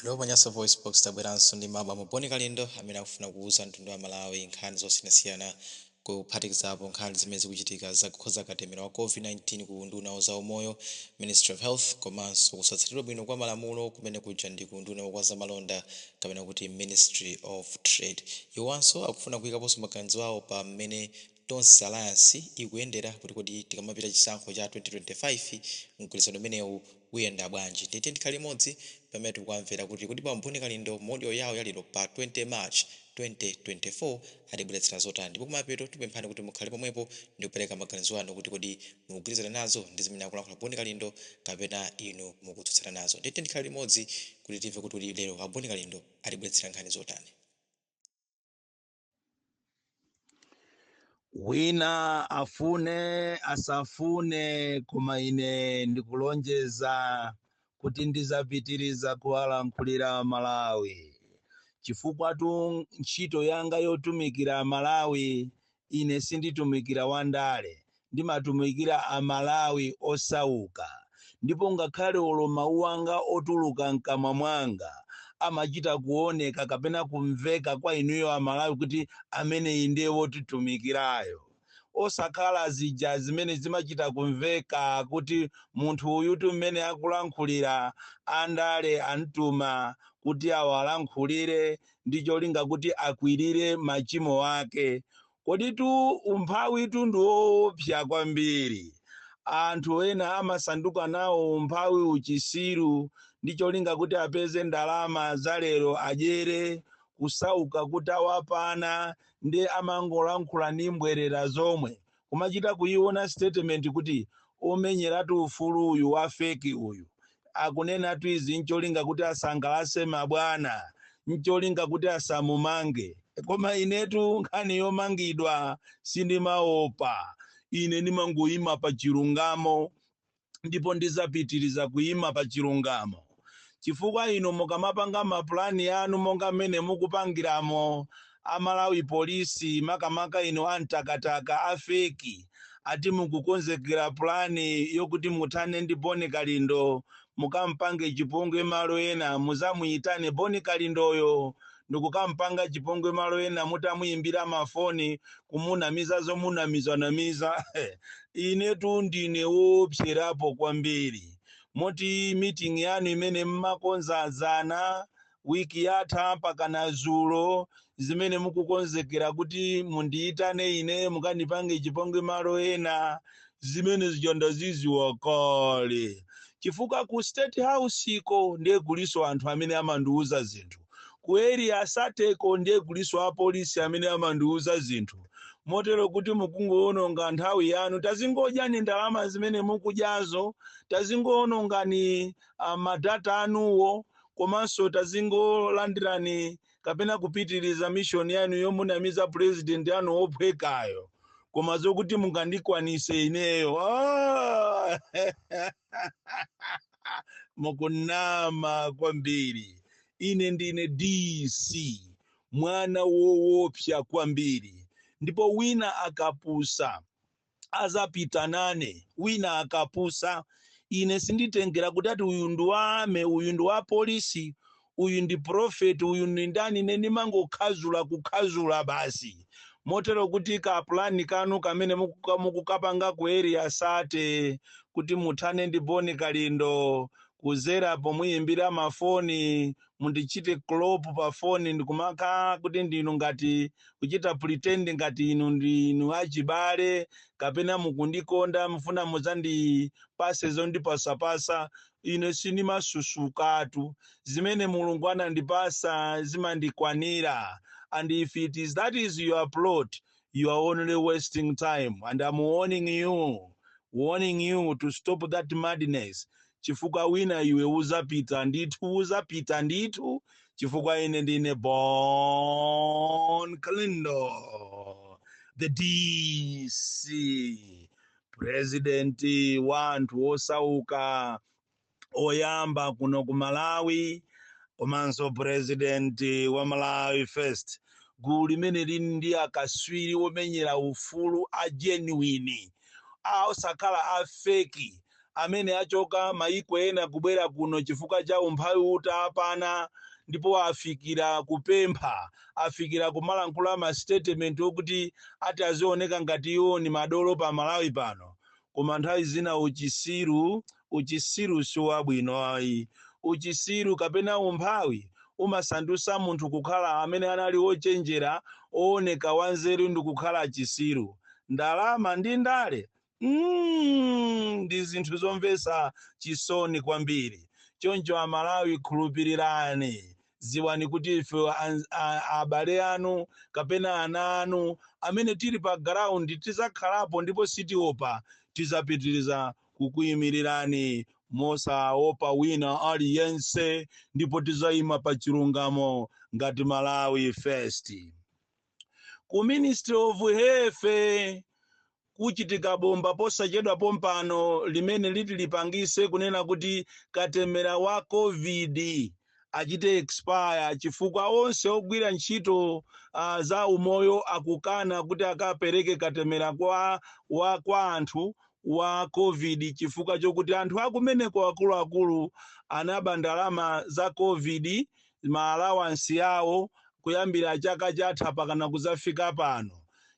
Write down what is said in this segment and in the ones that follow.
Hello pa Nyasa VoiceBox, tabweranso ndi bambo Boni Kalindo amene akufuna kuuza mtundu wa Malawi nkhani zosiyanasiyana kuphatikizapo nkhani zimene zikuchitika za kukhoza katemera wa Covid-19 ku unduna wa zaumoyo, Ministry of Health, komanso kusatsatidwa bwino kwa malamulo kumene kuja ndi ku unduna wa zamalonda kapena kuti Ministry of Trade. Iwo anso akufuna kuikaponso maganizo awo pa mmene Tonse alliance ikuyendera kuti kodi tikamapita chisankho cha 2025 mgwirizano umenewu uyenda bwanji ndiye tiyeni tikhale limodzi pamene tikuwamvera kuti kodi bambo Bon Kalindo mu audio yawo ya lero pa 20 March 2024 atibweretsera zotani ndipo kumapeto tikupemphani kuti mukhale pomwepo ndikupereka maganizo anu kuti kodi mukugwirizana nazo ndi zimene akulankhula Bon Kalindo kapena inu mukutsutsana nazo ndiye tiyeni tikhale limodzi kuti timve kuti kodi lero a Bon Kalindo atibweretsera nkhani zotani. wina afune asafune koma ine ndikulonjeza kuti ndizapitiriza kuwalankhulira Amalawi chifukwatu ntchito yanga yotumikira Amalawi ine sinditumikira wandale ndimatumikira amalawi osauka ndipo ngakhale olo mawu anga otuluka mkamwa mwanga amachita kuoneka kapena kumveka kwa inuyo amalawi kuti ameneyi ndiye wotitumikirayo osakhala zija zimene zimachita kumveka kuti munthu uyutu mmene akulankhulira andale amtuma kuti awalankhulire ndi cholinga kuti akwirire machimo ake Koditu umphawitu ndi woopsa kwambiri. Anthu ena amasanduka nawo umphawi uchisiru ndi cholinga kuti apeze ndalama za lero adyere, kusauka kutawapana nde amangolankhula ndi mbwerera zomwe, kumachita kuiona statement kuti omenyeratu ufulu uyu wa feki uyu akunenatu izi ncholinga kuti asangalase mabwana ncholinga kuti asamumange koma inetu nkhani yomangidwa sindimaopa ine ndimangoima pa chilungamo ndipo ndizapitiriza kuima pa chilungamo. chifukwa inu mukamapanga mapulani anu monga mmene mukupangiramo a Malawi Police makamaka inu a mtakataka a feki ati mukukonzekera pulani yokuti muthane ndi Boni Kalindo mukampange chipongwe malo ena muzamuyitane Boni Kalindoyo ndikukampanga chipongwe malo ena mutamuyimbira mafoni kumunamiza zomunamizanamiza inetu ndine woopserapo kwambiri moti meeting yanu imene mmakonza zana wiki yatha mpakana zulo zimene mukukonzekera kuti mundiyitane ine mukandipange chipongwe malo ena zimene zija ndaziziwa kale chifukwa ku state house iko ndiye kuliso anthu amene amandiwuza zinthu ku area 30 ko ndiye kuliso apolisi amene amandiuza zinthu motero kuti mukungowononga nthawi yanu tazingodyani ndalama zimene mukudyazo tazingowonongani ah, madata anuwo komanso tazingolandirani kapena kupitiriza mishoni yanu yomunamiza purezidenti anu wophwekayo koma zokuti mungandikwanise ineyo ah! mukunama kwambiri ine ndine dc mwana wowopsa kwambiri ndipo wina akapusa azapita nane wina akapusa ine sinditengera kuti ati uyu ndi wa army uyu ndi wa polisi uyu ndi pulofeti, uyu ndi ndani, ine ndimangokhazula kukhazula basi, motero kuti ka plan kanu kamene mukuka- mukukapanga ku area 30 kuti muthane ndi Bon Kalindo kuzera pomuyimbira mafoni mundichite clop pa foni ndikumakhala kuti ndinu ngati kuchita pretend ngati inu ndinu achibale kapena mukundikonda mufuna mudzandipase zondipasapasa Ine sindimasusukatu. Zimene Mulungu anandipasa zimandikwanira and if it is that is your plot you are only wasting time and I'm warning you warning you to stop that madness chifukwa wina iwe uzapita ndithu uzapita ndithu chifukwa ine ndine Bon Kalindo the DC purezidenti wa anthu osauka oyamba kuno ku malawi komanso purezidenti wa malawi first gulu limene lili ndi akaswiri omenyera ufulu a genuine osakhala a feki amene achoka mayiko ena kubwera kuno chifukwa cha umphawi utapana ndipo afikira kupempha afikira kumalankhula ma statement okuti ati azioneka ngati iwo ni madolo pa Malawi pano. Koma nthawi zina uchisiru, uchisiru siwabwino ayi. Uchisiru kapena umphawi umasandusa munthu kukhala amene anali ochenjera, ooneka wanzeru ndikukhala chisiru. Ndalama ndi ndale Mm, ndi zinthu zomvetsa chisoni kwambiri choncho amalawi khulupirirani ziwani kuti ife an- a- abale anu kapena ana anu amene tili pa ground tizakhalapo ndipo sitiopa tizapitiriza kukuyimirirani mosaopa wina aliyense ndipo tizayima pa chilungamo ngati malawi first ku ministry of health kuchitika bomba posachedwa pompano limene liti lipangise kunena kuti katemera wa Covid achite expire chifukwa onse ogwira ntchito uh, za umoyo akukana kuti akapereke katemera kwa, wa, kwa anthu wa covid chifukwa chokuti anthu akumeneko akuluakulu anaba ndalama za covid ma allowance awo kuyambira chaka chatha pakana kuzafika pano.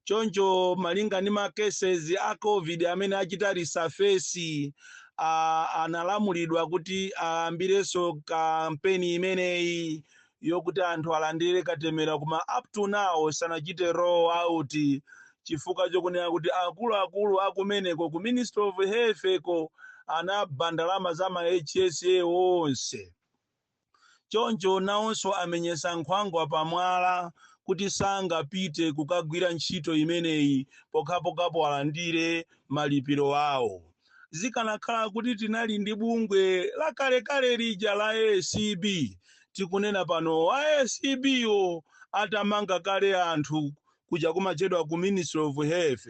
Choncho malinga ndi ma cases a Covid amene achita resurface, ah, analamulidwa kuti ayambirenso kampeni imeneyi yokuti anthu alandire katemera koma up to now sanachite roll out chifukwa chokunena kuti akuluakulu akumeneko ku Ministry of Health ko anaba ndalama za ma HSA onse. Choncho nawonso amenyetsa nkhwangwa pamwala kuti sangapite kukagwira ntchito imeneyi pokhapokhapo alandire malipiro awo. Zikanakhala kuti tinali ndi bungwe lakalekale lija la acb, tikunena pano a acb wo atamanga kale anthu kuja kumatchedwa ku ministry of health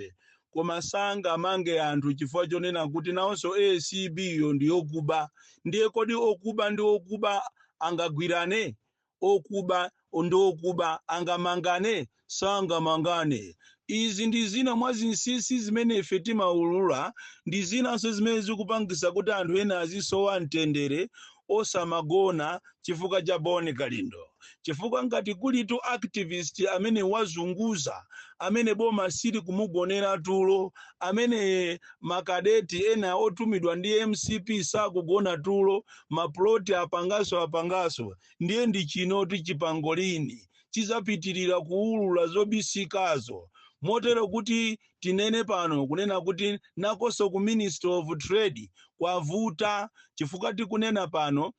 koma sangamange anthu chifukwa chonena kuti nawonso acb yo ndi yokuba ndiye kodi okuba ndi okuba angagwirane okuba ndi okuba angamangane sangamangane izi ndi zina mwa zinsinsi zimene ife timaulula ndi zinanso zimene zikupangisa kuti anthu ena azisowa mtendere osamagona chifukwa cha Bon Kalindo chifukwa ngati kulitu activist amene wazunguza amene boma sili kumugonera tulo amene makadeti ena otumidwa ndi mcp sakugona tulo maploti apangaso apangaso ndiye ndi chinoti chipangolini chizapitirira kuulula zobisikazo motero kuti tinene pano kunena kuti nakoso ku ministry of trade kwavuta chifukwa tikunena pano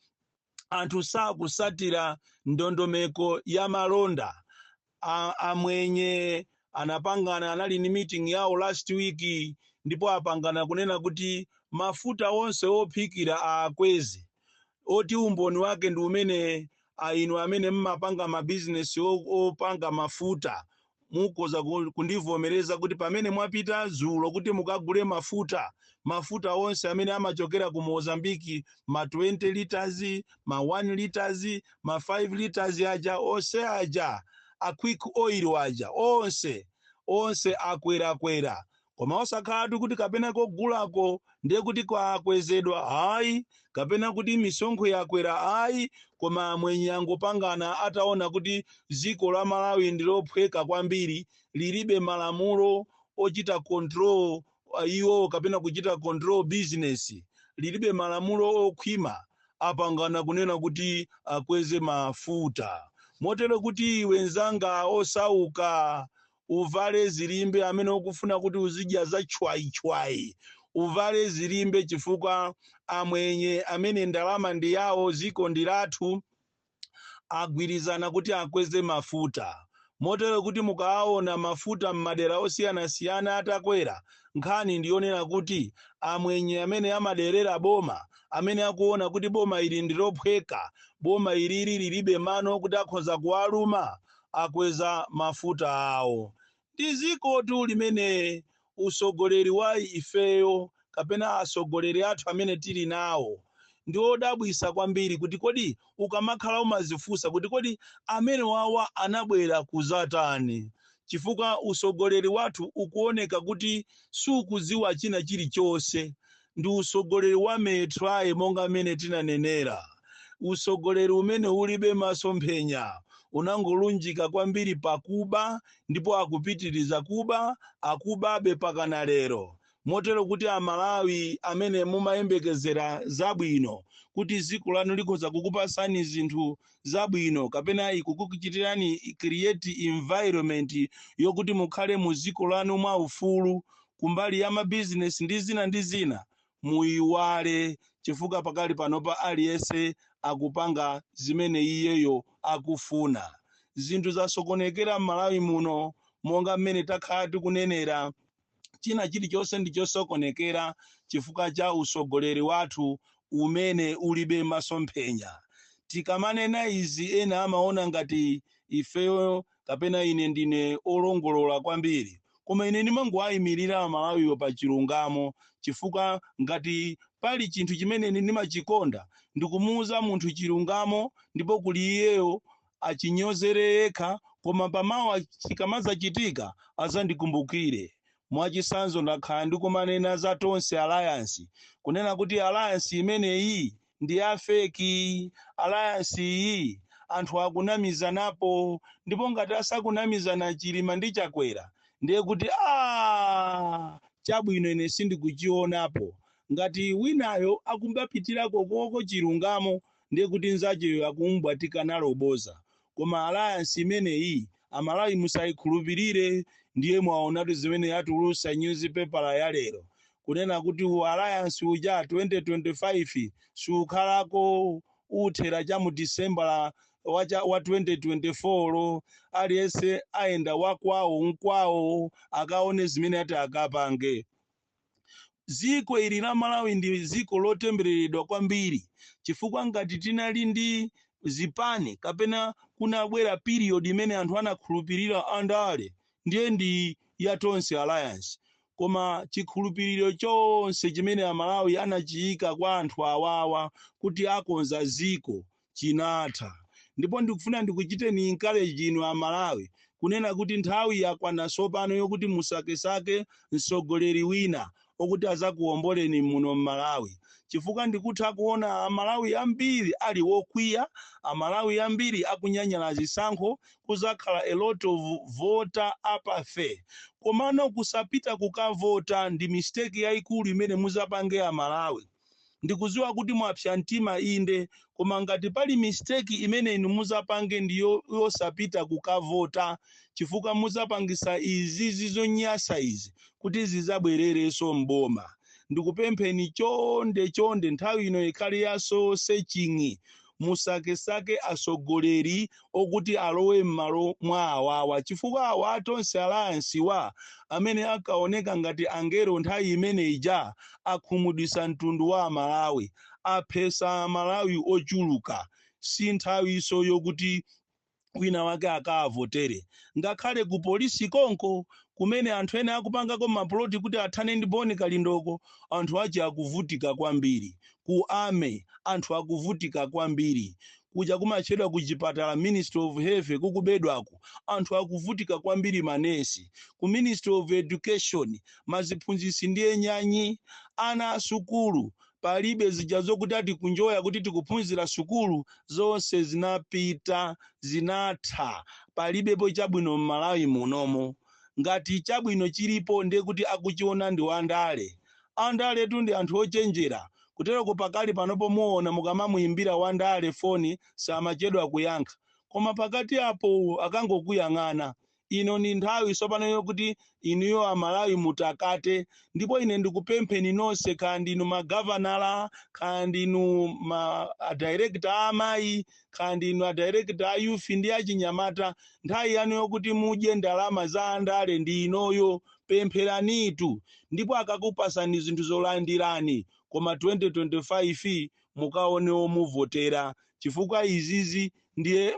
anthu sakusatira ndondomeko ya malonda a, amwenye anapangana anali ni meeting yawo last week ndipo apangana kunena kuti mafuta onse ophikira aakweze oti umboni wake ndi umene inu amene mmapanga mabizinesi o- opanga mafuta Mukhoza ku, kundivomereza kuti pamene mwapita dzulo kuti mukagule mafuta, mafuta onse amene amachokera ku Mozambique, ma 20 litres, ma 1 litres, ma 5 litres aja, onse aja, a Quick Oil aja, onse, onse akwerakwera. koma osakhalatu kuti kapena kogulako ndiye kuti kwakwezedwa ayi kapena kuti misonkho yakwera ayi koma amwenye angopangana ataona kuti dziko la malawi ndi lophweka kwambiri lilibe malamulo ochita control uh, iwo kapena kuchita control business lilibe malamulo okhwima apangana kunena kuti akweze mafuta motero kuti iwe nzanga osauka uvale zilimbe amene ukufuna kuti uzidya za chwayichwayi uvale zilimbe chifukwa amwenye amene ndalama ndi yawo ziko ndi lathu agwirizana kuti akweze mafuta motero kuti mukawaona mafuta m'madera osiyanasiyana atakwera nkhani ndi yonena kuti amwenye amene amaderera boma amene akuona kuti boma ili ndilophweka boma ilili lilibe mano kuti akhoza kuwaluma akweza mafuta awo ndi zikotu limene usogoleri wa ifeyo kapena asogoleri athu amene tili nawo ndi odabwisa kwambiri kuti kodi ukamakhala umazifunsa kuti kodi amene wawa anabwera kuzatani chifukwa usogoleri wathu ukuoneka kuti sukuziwa china chilichonse ndi usogoleri wa "Me try" monga mmene tinanenera. Usogoleri umene ulibe masomphenya unangolunjika kwambiri pa kuba ndipo akupitiriza kuba, akubabe mpakana lero. Motero kuti a Malawi amene mumayembekezera zabwino kuti dziko lanu likhoza kukupatsani zinthu zabwino kapena ikukuchitirani create environment yokuti mukhale mu dziko lanu mwa ufulu kumbali ya mabizinesi ndi zina ndi zina muyiwale chifukwa pakali panopa aliyense akupanga zimene iyeyo akufuna zinthu zasokonekera m'malawi muno monga mmene takhala tikunenera china chilichonse ndi chosokonekera chifukwa cha usogoleri wathu umene ulibe masomphenya tikamanena izi ena amaona ngati ifeyo kapena ine ndine olongolola kwambiri koma ine ndimangowayimirira amalawiwo pa chilungamo chifukwa ngati pali chinthu chimene ine ndimachikonda ndikumuuza munthu chilungamo ndipo kuli iyeyo Achinyozere yekha koma pa mawa chikamadzachitika adzandikumbukire. Mwachitsanzo ndakhala ndikumanena za Tonse Alliance kunena kuti alliance imeneyi ndi ya fake, alliance iyi anthu akunamizanapo ndipo ngati asakunamizana Chilima ndi Chakwera ndiye kuti aah chabwino ine sindikuchionapo. Ngati winayo akubapitirako koko chilungamo ndiye kuti nzacheyo akumubwatika nalo boza koma alliance imeneyi amalawi musaikhulupirire ndiye mwaonatu zimene yatulusa nyuzipepala ya lero kunena kuti alliance uja 2025 siukhalako uthera cha mu disembala wa, cha- wa 2024 yo aliyense ayenda wakwawo nkwawo akaone zimene ati akapange Dziko ili la Malawi ndi dziko lotembereredwa kwambiri chifukwa ngati tinali ndi zipani kapena kunabwera period imene anthu anakhulupirira andale ndiye ndi ya Tonse Alliance koma chikhulupiriro chonse chimene Amalawi anachiika kwa anthu awawa kuti akonza dziko chinatha ndipo ndikufuna ndikuchiteni encourage inu a Malawi kunena kuti nthawi yakwana sopano yokuti musakesake msogoleri wina okuti azakuomboleni muno m'Malawi chifukwa ndikutha kuona a Malawi ambiri ali wokwiya a Malawi ambiri akunyanyala zisankho kuzakhala a lot of voter apathy komano kusapita kukavota ndi mistake yaikulu imene muzapange a Malawi Ndikuziwa kuti mwapsa mtima inde koma ngati pali mistake imene inu muzapange ndi yo, yosapita kukavota chifukwa muzapangisa izi zonyasa izi kuti zizabwerereso m'boma. Ndikupempheni chonde chonde nthawi ino ikhale ya soul searching musakesake atsogoleri okuti alowe m'malo mwa awawa chifukwa awa a Tonse Alliance wa amene ankaoneka ngati angelo nthawi imene ija akhumudwitsa mtundu wa Amalawi, aphetsa Amalawi ochuluka. Si nthawinso yokuti. wina wake akawavotere ngakhale ku polisi konko kumene anthu ena akupangako mapuloti kuti athane ndi Boni Kalindoko anthu ake akuvutika kwambiri ku army anthu akuvutika kwambiri kuja kumatchedwa ku chipatala Ministry of Health kukubedwaku anthu akuvutika kwambiri manesi ku Ministry of Education maziphunzitsi ndiye nyanyi ana asukulu palibe zija zokuti ati kunjoya kuti tikuphunzira sukulu zonse zinapita zinatha palibepo chabwino m'malawi munomo ngati chabwino chilipo ndiye kuti akuchiona ndi wandale andaletu ndi anthu ochenjera kuteroko pakali panopo muona mukamamuyimbira wandale foni samachedwa kuyankha koma pakati apo akangokuyang'ana ino ndi nthawi tsopano yokuti inuyo amalawi mutakate ndipo ine ndikupempheni nonse kaya ndinu magavanala kaya ndinu ma adirekta a amayi kaya ndinu adirekta a youth ndi achinyamata nthawi yanu yokuti mudye ndalama za andale ndi inoyo pempheranitu ndipo akakupasani zinthu zolandirani koma 2025 mukaone omuvotera chifukwa izizi ndiye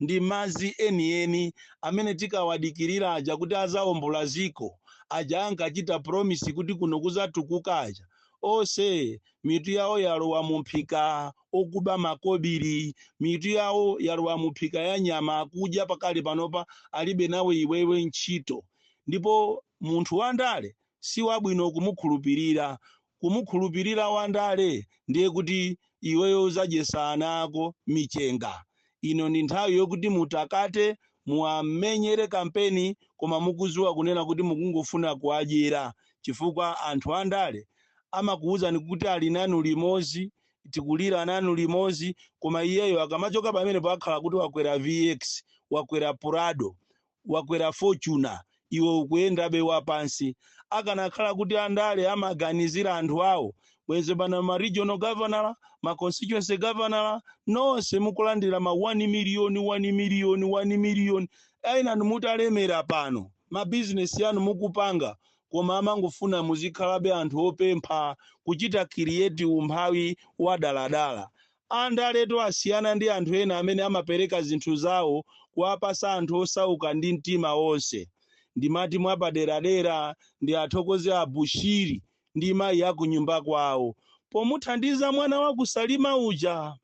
ndi madzi enieni amene tikawadikirira aja kuti azaombola dziko, aja ankachita promise kuti kuno kuzatukuka aja, onse mitu yawo yalowa mumphika okuba makobili, mitu yawo yalowa mumphika ya nyama akudya pakali panopa alibe nawe iwewe ntchito. Ndipo munthu wandale siwabwino kumukhulupirira, kumukhulupirira Wandale ndiye kuti iweyo uzadyesa ana ako michenga. Ino ndi nthawi yokuti mutakate muwamenyere kampeni koma mukuziwa kunena kuti mukungofuna kuwadyera chifukwa anthu andale amakuwuzani kuti ali nanu limozi tikulira nanu limozi koma iyeyo akamachoka pamenepo amakhala kuti wakwera vx wakwera prado wakwera fortuner iwe ukuyendabe wapansi akanakhala kuti andale amaganizira anthu awo bwenzi pano ma regional governor ma constituency governor nonse mukulandira ma 1 million 1 million 1 million enanu mutalemera pano ma business anu mukupanga koma amangofuna muzikhalabe anthu opempha kuchita create umphawi wadaladala Andaletu asiyana ndi anthu ena amene amapereka zinthu zawo kuwapasa anthu osauka ndi mtima onse. Ndimati mwapaderadera ndiathokoze a Bushiri ndi mayi a kunyumba kwawo pomuthandiza mwana wa ku Salima uja.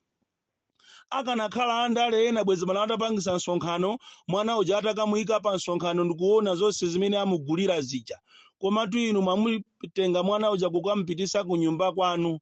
Akanakhala andale ena bwezi pano atapangisa msonkhano mwana uja atakamuika pa msonkhano ndikuonetsa zonse zimene amugulira zija. Komatu inu mwamutenga mwana uja kukamupitisa kunyumba kwanu.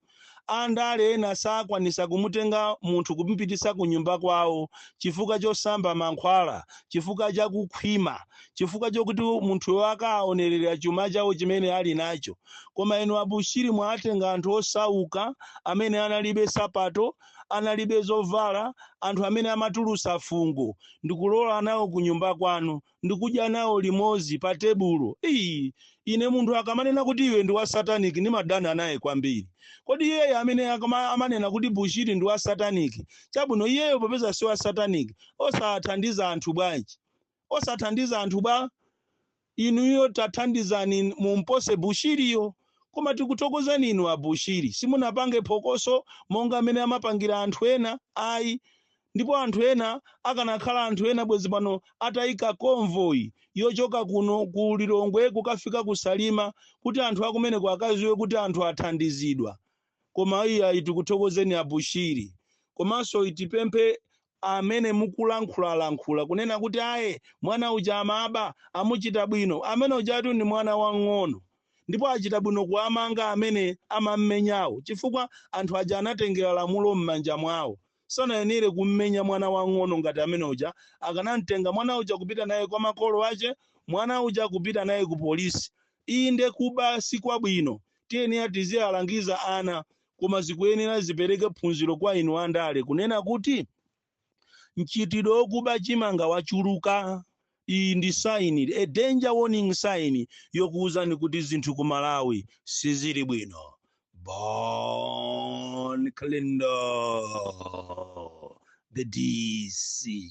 Andale ena sakwanisa kumutenga munthu kumupitisa kunyumba kwawo chifukwa chosamba mankhwala, chifukwa cha kukhwima, chifukwa chokuti munthuyo akaonelera chuma chawo chimene ali nacho. Koma inu a Bushiri mwatenga anthu osauka, amene analibe sapato, analibe zovala, anthu amene amatulusa fungo, ndikulowa nawo kunyumba kwanu. ndikudya nawo limodzi pa tebulo. Ii, ine munthu akamanena kuti iwe ndi wa satanic ndimadana naye kwambiri. Kodi iyeyo amene amanena kuti Bushiri ndi wa satanic, chabwino iyeyo popeza si wa satanic, osathandiza anthu bwanji? Osathandiza anthu bwa? Inuyo tathandizani mumpose Bushiriyo. Koma tikuthokozani inu a Bushiri, simunapange phokoso monga mmene amapangira anthu ena ayi. ndipo anthu ena akanakhala anthu ena bwezi pano ataika convoy yochoka kuno ku lilongwe kukafika ku salima kuti anthu akumeneko akadziwe kuti anthu athandizidwa koma ayiayi tikuthokozeni abushiri komanso tipemphe amene mukulankhulalankhula kunena kuti aye mwana uja amaba amuchita bwino amene ujatu ndi mwana wang'ono ndipo achita bwino kuwamanga amene amammenyawo chifukwa anthu aja anatengera lamulo m'manja mwawo sanayenere kummenya mwana wang'ono ngati amene uja akanamtenga mwana uja kupita naye kwa makolo ache mwana uja kupita naye ku polisi inde kuba si kwabwino tiyenera tiziwalangiza ana koma zikuyenera zipereke phunziro kwa inu andale kunena kuti mchitidwe wokuba chimanga wachuluka Iyi ndi sign, a danger warning sign, yokuuzani kuti zinthu ku Malawi sizili bwino. Bon Kalindo, the DC.